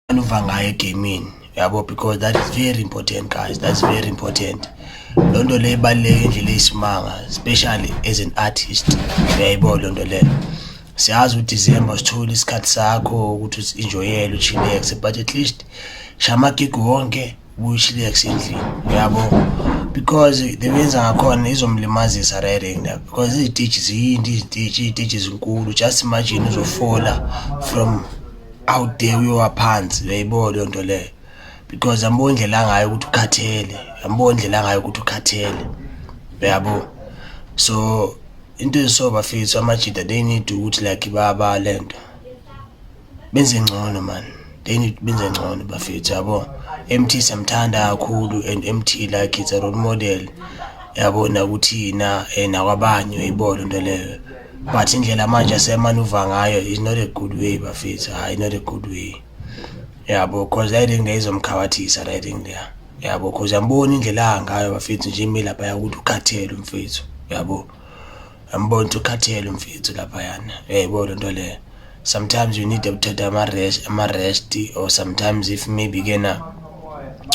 anuva ngayo egamini yabo because that is very important guys that's very important loo nto leyo ibaluleke indlela eyisimanga especially as an artist uyayibo loo nto leyo siyazi udecember sithole isikhathi sakho ukuthi uzinjoyele uchilexe but at least shamagigi wonke kuyishlex endlini uyabo because the benza ngakhona izomlimazisa rering la because izititshi ziyinto izititshi iy'titshi ezinkulu just imagine uzofola from out there uyowa phansi uyayibo leyo nto leyo because yambona indlela angayo ukuthi ukhathele yambona indlela angayo ukuthi ukhathele uyabo so into ezisobafethu amajida they need ukuthi like baba le nto benze ngcono man they need benze ngcono bafethu yabo MT samthanda kakhulu and MT like it's a role model yabo nakuthina eh, nakwabanye uyibona into leyo but indlela manje asemanuva ngayo is not a good way bafethu hayi not a good way yabo cause i think there is umkhawathisa i think there yabo cause yambona indlela angayo bafethu nje imile lapha ukuthi ukhathele umfethu yabo Yambona ukuthi ukhathele umfethu laphayana. Yebo le nto le. Sometimes you need ukuthatha ama-rest ama-rest or sometimes if maybe kena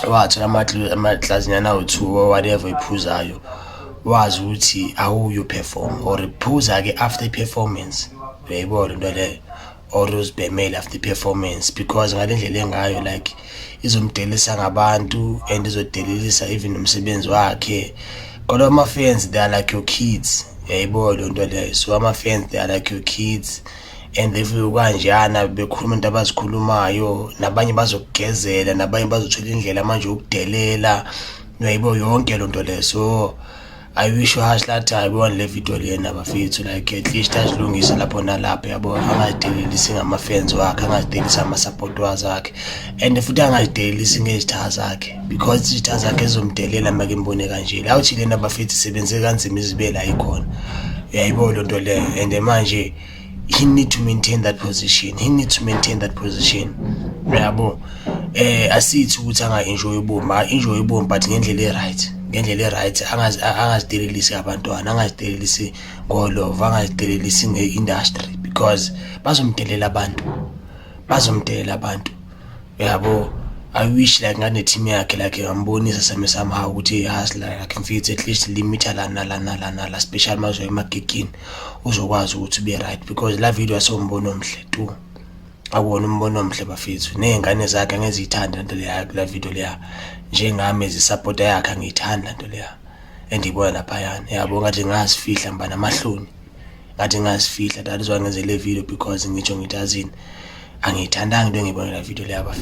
wathola amatl- amahlazinyana awu-two or whatever iphuzayo wazi ukuthi awuyo perform or phuza-ke after i-performance uyayibona into leyo or uzibhemele after performance because ngale ndlela engayo like izomdelisa ngabantu and izodelelisa even umsebenzi wakhe kodwa ama-fans they are like your kids yayibo loo nto leyo so ama-fans they are like your kids and if kanjana bekhuluma into abazikhulumayo nabanye bazokugezela nabanye bazothola indlela manje yokudelela uyayibo yonke loo nto leyo so I wish uhash lathi hayi bone le video lena bafethu like at least azilungise lapho nalapho yabo angazidelelisi ngama-fans wakhe angazidelelisi ama-support wakhe and futhi angazidelelisi ngezitha zakhe because izitha zakhe zizomdelela make mbone kanje la uthi lena bafethu sebenze kanzima izibela ikhona uyayibo loo nto leyo and manje he need to maintain that position he need to maintain that position uyabo eh asithi ukuthi anga enjoy ubomi a enjoy ubomi but ngendlela eright ngendlela eright angazi angazidelelisi abantwana angazidelelisi ngolova angazidelelisi ngeindustry because bazomdelela abantu bazomdelela abantu yabo I wish like ngane team yakhe like ngambonisa same somehow ukuthi has like I can feel it at least limit la na la na la na la special mazwe emagigini uzokwazi ukuthi be right because la video asombono omhle tu akuwona umbono omhle bafethu nezingane zakhe ngezithanda into leya la video leya njengami ezisupporta yakhe ngiyithanda into leya endibona lapha yana yabo ngathi ngazifihla mbana amahloni ngathi ngazifihla that is why ngenze le video because ngitsho ngithi azini angiyithandanga into engiyibonela video leyabafana